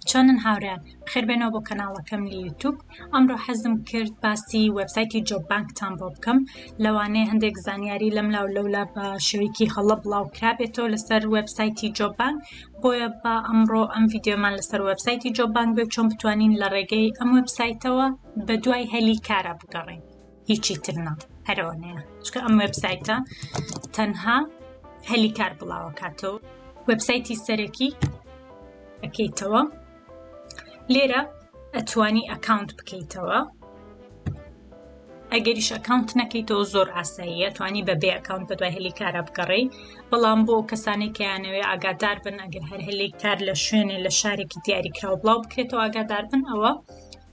چۆنن هاورێن خێر بێنەوە بۆ کەناڵەکەم لە یوتوب ئەمڕۆ حەزم کرد باسی وەبسایتی جۆب بانکتان بۆ بکەم لەوانەیە هەندێک زانیاری لەم لاو لەولا بە شوێکی هەڵە بڵاو کرابێتەوە لەسەر وەبسایتی جۆب بانک بۆیە با ئەمڕۆ ئەم یددیومان لەسەر وەبسایتی جۆب بانک بێ چۆن بتوانین لە ڕێگەی ئەم وەبسایتەوە بە دوای هەلی کارە بگەڕین هیچی تر نا هەرەوەنەیە چکە ئەم وبسایتە تەنها هەلی کار بڵاوەکاتەوە وبسایتی سەرەکی ئەەکەیتەوە لێرە ئەتوانی ئەکاونت بکەیتەوە ئەگەریش ئەکاونت نەکەیتەوە زۆر ئاساییە توانی بە بێ ئەکاونت بە دوای هەلی کارە بگەڕی بەڵام بۆ کەسانی کەیانەوێ ئاگادار بن ئەگەر هەر هەلی کار لە شوێنێ لە شارێکی دیاریکراوە بڵاو بکرێتەوە ئاگادار بن ئەوە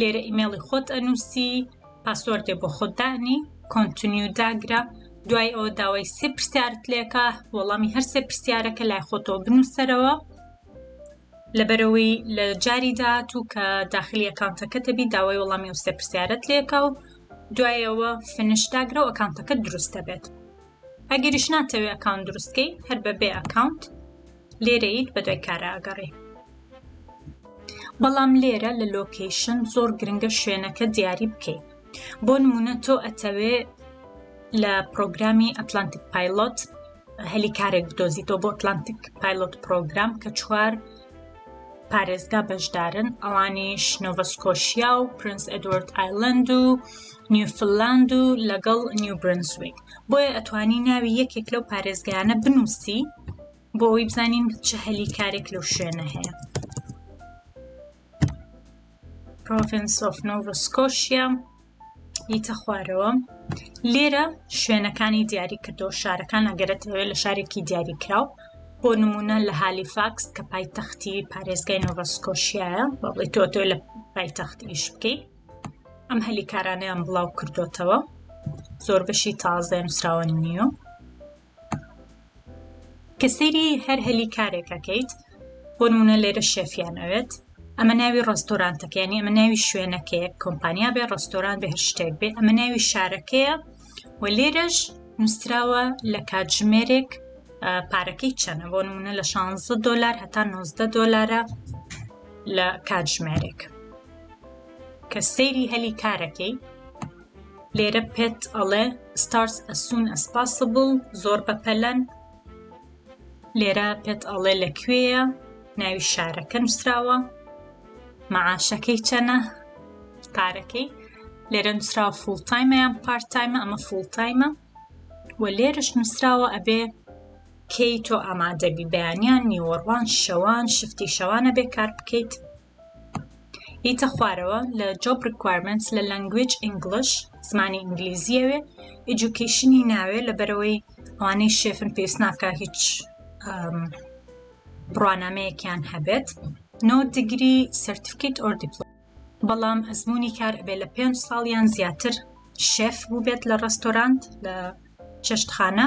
لێرە ئیمێڵی خۆت ئەنووسی پاسۆردێ بۆ خۆت دانی کۆنتنیو داگرە دوای ئەوە داوای سێ پرسیارت لێکە وەڵامی هەر سێ پرسیارەکە لای خۆتەوە بنووسەرەوە لەبەرەوەی لە جاری داات و کە داخلی ئەکانتەکە دەبی داوای وەڵامی و سێ پرسیارت لێکە و دوایەوە فنش داگرە و ئەکانتەکە دروست دەبێت ئەگەریش ناتەوێ ئەکاونت دروستکەی هەر بە بێ ئەکاونت لێرەیت بە دوای کارە ئەگەڕێ بەڵام لێرە لە لۆکەیشن زۆر گرنگە شوێنەکە دیاری بکەیت بۆ نمونە تۆ ئەتەوێ لە پرۆگرامی ئەتلانتیک پایلۆت هەلی کارێک بدۆزیتەوە بۆ ئەتلانتیک پایلۆت پرۆگرام کە چوار پارێزگا بەشدارن ئەوانیش نۆڤە سکۆشیا و پرنس ئەدوارد ئایلند و نیوفلاند و لەگەڵ نیو برنسویک بۆیە ئەتوانی ناوی یەکێک لەو پارێزگایانە بنووسی بۆ ئەوی بزانین چه هەلی کارێک لەو شوێنە هەیە Province of Nova Scotia یتە خوارەوە لێرە شوێنەکانی دیاری کردو شارەکان ئەگەرەتەوێت لە شارێکی دیاریکراو بۆ نمونە لە هالیفاکس کە پایتەختی پارێزگای نۆڤسکۆشیایە بە بڵی تۆتۆ لە پایتەخت ئیش بکەیت ئەم هەلی کارانیان بڵاو کردوتەوە زۆر بەشی تازە نووسراوە نیو کە سەیری هەر هەلی کارێک ئەکەیت بۆ نمونە لێرە شێفیان ئەوێت ئەمە ناوی ڕستۆرانتەکەیانی ئەمە ناوی شوێنەکەیە کۆمپانیا بێ ڕستۆران بێ هەر شتێک بێ ئەمە ناوی شارەکەیە و لێرەش نووسراوە لە کاتژمێرێک پارەکەی چەنە بۆ نمونە لە 16 دلار هەتا 90 دلارە لە کاتژمێرێک کە سەیری هەلی کارەکەی لێرە پێت ئەڵێ starts as soon as possible زۆر بەپەلەن لێرە پێت ئەڵێ لە کوێیە ناوی شارەکە نووسراوە معاشەکەی چەنە پارەکەی لێرە نووسراوە فول تایمە یان پارت تایمە ئەمە فول تایمە و لێرش نووسراوە ئەبێ کەی تۆ ئامادەبی بەیانیان نیوەڕوان شەوان شفتی شەوانە بێ کار بکەیت یتە خوارەوە لە جۆب ڕیکوارمێنتس لە لەنگویج ئینگڵش زمانی ئینگلیزیەوێ ئیجوکیشنی ناوێ لەبەرەوەی ئەوانەی شێفن پێویست ناکە هیچ بڕوانامەیەکیان هەبێت نۆ دیگری سرتفکیت ئۆر دیپلۆم بەڵام ئەزمموی کار ئەبێ لە پێنج ساڵیان زیاتر شێف بووبێت لە ڕستۆرانت لە چێشتخانە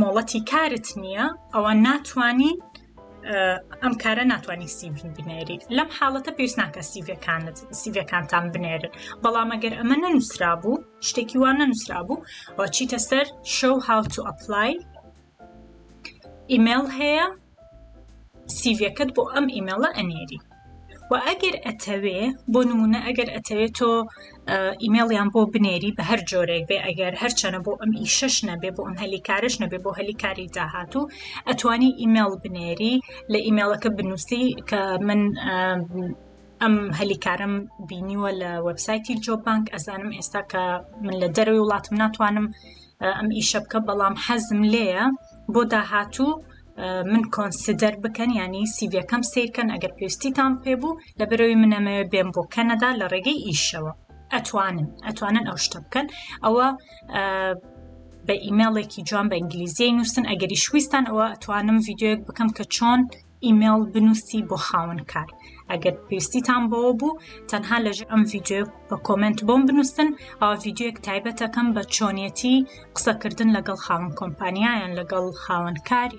مۆڵەتی کارت نییە ئەوە ناتوانین ئەم کارە ناتوانانی سیڤ بنێری لەم حاڵەتە پێویست ناکە سیڤەکانت سیڤەکانتان بنێرن بەڵام ئەگەر ئەمە نەنووسرا بوو شتێکی وان نەنووسرا بوو چیتە سەر شەو هاوتو ئەپلای ئیمێل هەیە سیڤەکەت بۆ ئەم ئیمێڵە ئەنێری و ئەگەر ئەتەوێ بۆ نمونە ئەگەر ئەتەوێت تۆ ئیمێڵیان بۆ بنێری بە هەر جۆرێک بێ ئەگەر هەرچەنە بۆ ئەم ئیشەش نەبێ بۆ ئەم هەلی کارش نەبێ بۆ هەلی کاری داهاتوو ئەتوانی ئیمێڵ بنێری لە ئیمێڵەکە بنووسی کە من ئەم هەلیکارم بینیوە لە وەبسایتی جۆبانک ئەزانم ئێستا کە من لە دەروی وڵاتم ناتوانم ئەم ئیشە بکە بەڵام حەزم لێیە بۆ داهاتوو من کۆنسیدەر بکەن یانی سیڤەکەم سیرکەن ئەگەر پێویستیتان پێبوو لە بەرەوەی منەمەوێ بێن بۆ کەنەدا لە ڕێگەی ئیشەوە ئەتوانن ئەتوانن ئەو شتە بکەن ئەوە بە ئیممەڵێکی جوان بە ئینگلیزیی نووسن ئەگەری شویستان ئەوە ئەتوانم یددیوەک بکەم کە چۆن ئیممەڵ بنووسی بۆ خاون کار ئەگەر پێویستیتان بەوە بوو تەنها لەژ ئەم یددیو بە کۆمنت بۆم بنووسن ئەو یددیوەک تایبەتەکەم بە چۆنیەتی قسەکردن لەگەڵ خاوەن کۆمپانیایان لەگەڵ خاوەن کار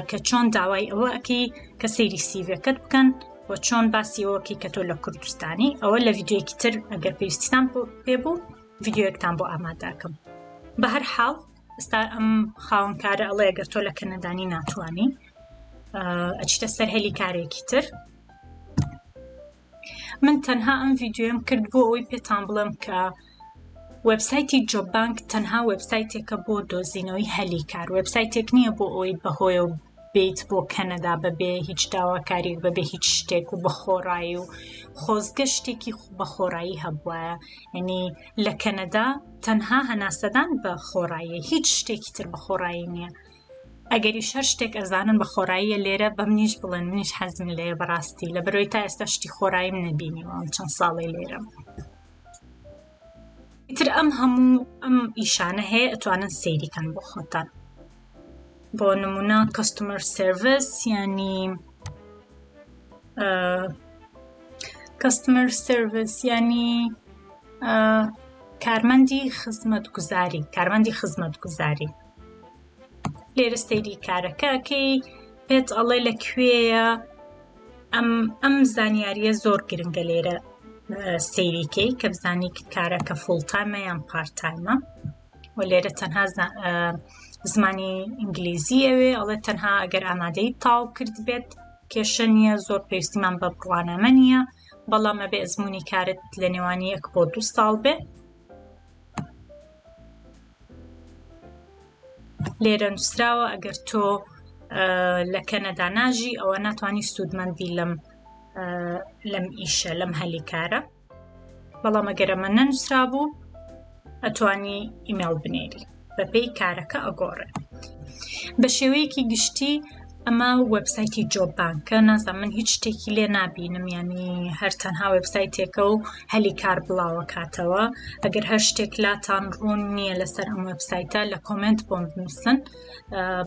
کە چۆن داوای ئەوە ئەکەی کە سەیری سیڤەکەت بکەن و چۆن باسی ئەوەکەی کە تۆ لە کوردستانی ئەوە لە یددیوەکی تر ئەگەر پێویستان پێ بوو یددیوەکتان بۆ ئاماداکەم بە هەر حاڵ ئستا ئەم خاونکارە ئەڵێ گەر تۆ لە کەنەدانی ناتوانانی ئەچتە سەر هەلی کارێکی تر من تەنها ئەم ڤیدیۆم کرد بۆ ئەوەی پێتان بڵێم کە وبسایتی جۆبانک تەنها وبسایتێکە بۆ دۆزینەوەی هەلی کار وبسایتێک نییە بۆ ئەوەی بەهۆیە و بیت بۆ کەنەدا بەبێ هیچ داواکاریک بەبێ هیچ شتێک و بەخۆڕایی و خۆزگە شتێکی بەخۆڕایی هەبووە ینی لە کەنەدا تەنها هەناسەدان بە خۆڕاییە هیچ شتێکی تر بەخۆڕایی نییە ئەگەریش هەر شتێک ئەزانن بە خۆڕاییە لێرە بە منیش بڵێن منیش حەزم لێیە بەڕاستی لە بەرەوەی تا ئێستا شتی خۆڕاییم نەبینیوە ئەم چەند ساڵی لێرەم تر ئەم هەموو ئەم ئیشانە هەیە ئەتوانن سەیریکەن بۆ خۆتان بۆ نمونە کەستمەر سرویس ینی کەستمەر سرویس ینی کارمەندی خزمەت گوزاری کارمەندی خزمەت گوزاری لێرە سەیری کارەکەکەی پێت ئەڵێ لە کوێیە ئەم ئەم زانیاریە زۆر گرنگە لێرە سەیریکەی کە بزانی کارەکە فڵتایمە یان پارتایمە و لێرە تەنها زمانی ئینگلیزی ئەوێ ئەڵێ تەنها ئەگەر ئامادەی تاو کرد بێت کێشە نییە زۆر پێویستیمان بە بڕوانامە نییە بەڵام ئەبێ ئەزمموی کارت لە نێوان یەک بۆ دو ساڵ بێ لێرە نووسراوە ئەگەر تۆ لە کەنەدا ناژی ئەوە ناتوانانی سوودمەندی لەم لەم ئیشە لەم هەلی کارە بەڵام ئەگەرەمە نەنووسرا بوو ئەتوانی ئیمێڵ بنێری بەپێی کارەکە ئەگۆڕێ بە شێوەیەکی گشتی ئەمە وەبسایتی جۆب بانکە نازان من هیچ شتێکی لێ نبینم ینی هەر تەنها وەبسایتێکە و هەلی کار بڵاوە کاتەوە ئەگەر هەر شتێک لاتان ڕوون نییە لەسەر ئەم وەبسایتە لە کۆمنت بۆم بنووسن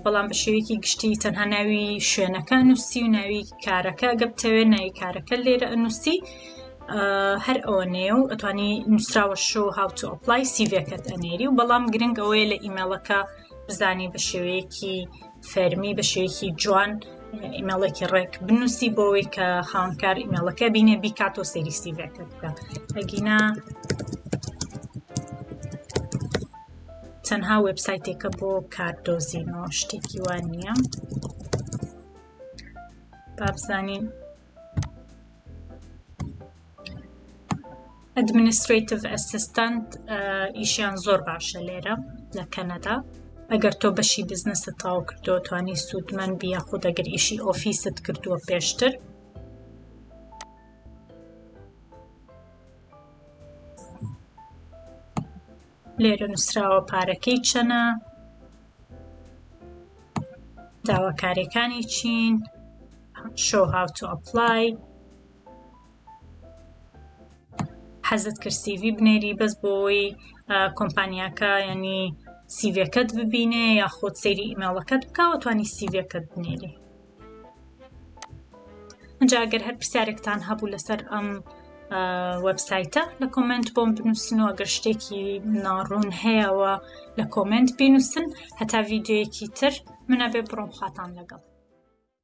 بەڵام بە شێوەیەکی گشتی تەنها ناوی شوێنەکە نووسی و ناوی کارەکە گەبتەوێت ناوی کارەکە لێرە ئەنووسی هەر ئەوە نێ و ئەتوانی نووسراوە شو هاوتو ئۆپلای سیڤەکەت ئەنێری و بەڵام گرنگ ئەوەیە لە ئیممەڵەکە بزانی بە شێوەیەکی فەرمی بە شێوەیەکی جوان ئیمێڵێکی ڕێک بنووسی بۆەوەی کە خاونکار ئیمێڵەکە بینێ بیکات و سەریسیڤەکە بکە ئەگینا تەنها وبسایتێکە بۆ کاردۆزینەوە شتێکی وان نییە بابزانین ئەدمنیسترەیتڤ ئەسیستەنت ئیشیان زۆر باشە لێرە لە کەنەدا ئەگەر تۆ بەشی بزنست تاو کردو توانی سوودمەند بیە خود ئەگەر ئیشی ئۆفیست کردووە پێشتر لێرە نووسراوە پارەکەی چەنە داواکاریەکانی چین شۆ هاوتو ئەپلای حەزت کرد سیڤی بنێری بەس بۆی کۆمپانیاکە ینی سیڤەکەت ببینێ یاخود سەیری ئیماڵەکەت بکەوە توانی سیڤەکەت بنێری ئەجا ئەگەر هەر پرسیارێکتان هەبوو لەسەر ئەم وەبسایتە لە کۆمنت بۆم بنووسن و ئەگەر شتێکی ناڕوون هەیەەوە لە کۆمنت بینووسن هەتا ڤیددیوەکی تر منە بێ بڕۆم خاتان لەگەڵ